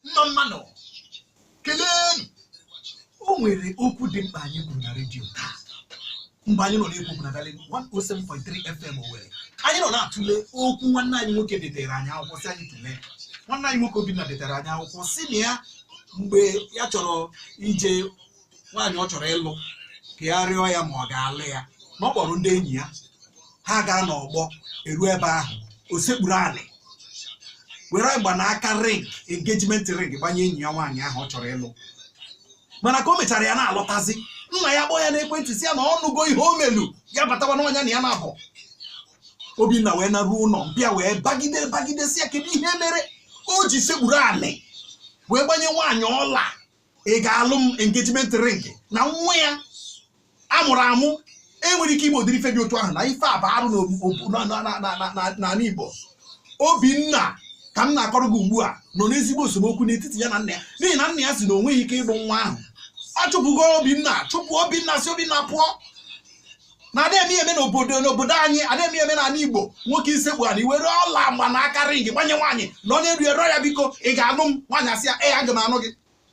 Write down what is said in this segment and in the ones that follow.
mma mmanụ kelenu o nwere okwu dị mkpa anyị kwuru na redio taa mgbe anyị nọ na-ekwu okwu na Darling 107.3 FM Owerri anyị nọ na-atụle okwu nwanne anyị nwoke detere anyị akwụkwọ sị anyị tụlee nwanne anyị nwoke Obinna detere anyị akwụkwọ sị na ya mgbe ya chọrọ ije nwaanyị ọ chọrọ ịlụ ka ya rịọ ya ma ọ ga-alụ ya na ọ kpọrọ ndị enyi ya ha gaa n'ọgbọ eru ebe ahụ o sekpuru anị were mgbanaka ring engagement ring gbanye enyi ya nwaanyị ahụ ọ chọrọ ịlụ mana ka o mechara ya na-alọtazi nna ya kpọọ ya n'ekwentị sị ya na ọ nụgo ihe o melu ya batawa n'ụnọ ya na ya nwa bụ obinna wee naruo ụnọ mpa ya wee bagide bagide sị ya kedu ihe mere o ji sekpuru anị wee gbanye nwaanyị ọla ị ga-alụ m engagement ring na nwa ya mụrụ amụ enwerọ ike ime ụdịrị ife dị otu ahụ na ife a bụ arụ n'anị Igbo Obinna ka m na-akọrọ gị ugbu a nọ n'ezigbo esemokwu n'etiti ya na nna ya n'ihi na nna ya sị na o nweghị ike ịlụ nwa ahụ ọ chụpụgo Obinna chụpụ Obinna sị Obinna pụọ na ada eme eme n'obodo n'obodo anyị ada eme eme n'anị igbo nwoke isekpu anị were ọla mgbanaka ring gbanye nwaanyị nọ n'elu ya rịọ ya biko ị ga-anụ m nwaanyị asị ya ee aga m anụ gị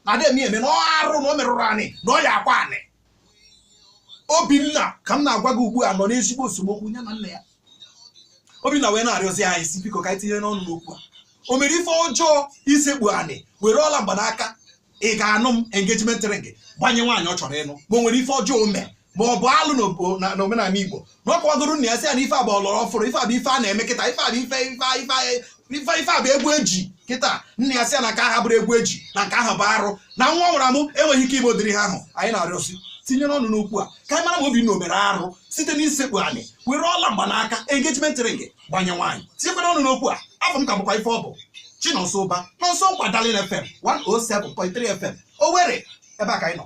na ada eme eme na ọ arụ na o merụrụ anị na ọ ya-akwa anị obinna ka m na-agwa gị ugbu a nọ n'ezigbo esemokwu ya na nna ya obinna wee na-arịọzi anyị sị biko ka anyị tinye ọnụ n'okwu a o mere ife ọjọọ isekpu anị were ọla mgbanaka ị ga-anụ m engagement ring gbanye nwaanyị ọ chọrọ ịnụ ma o nwere ife ọjọọ o mere ma ọ bụ alụ na omenala igbo na ọ kọwagoro nna ya sị ya na ife a bụ ọlọrọ ọfụrụ ife a bụ ife a na-eme kịta ife a bụ ife ife ife a bụ egwu eji kịta nna ya sị ya na nke a abụrọ egwu eji na nke a bụ arụ na nwa ya mụrụ amụ enweghị ike ime ụdịrị ihe ahụ anyị na-arịọ sị tinyere ọnụ n'okwu a ka anyị mara ma obinna o mere arụ site n'isekpu anị were ọla mgbanaka engagement ring gbanye nwaanyị tinyekwanụ ọnụ n'okwu a afa m ka bụkwa ife ọ bụ Chinonso Ụba Nonso Nkwa Darling FM 107.3 FM Owerri ebe a ka anyị nọ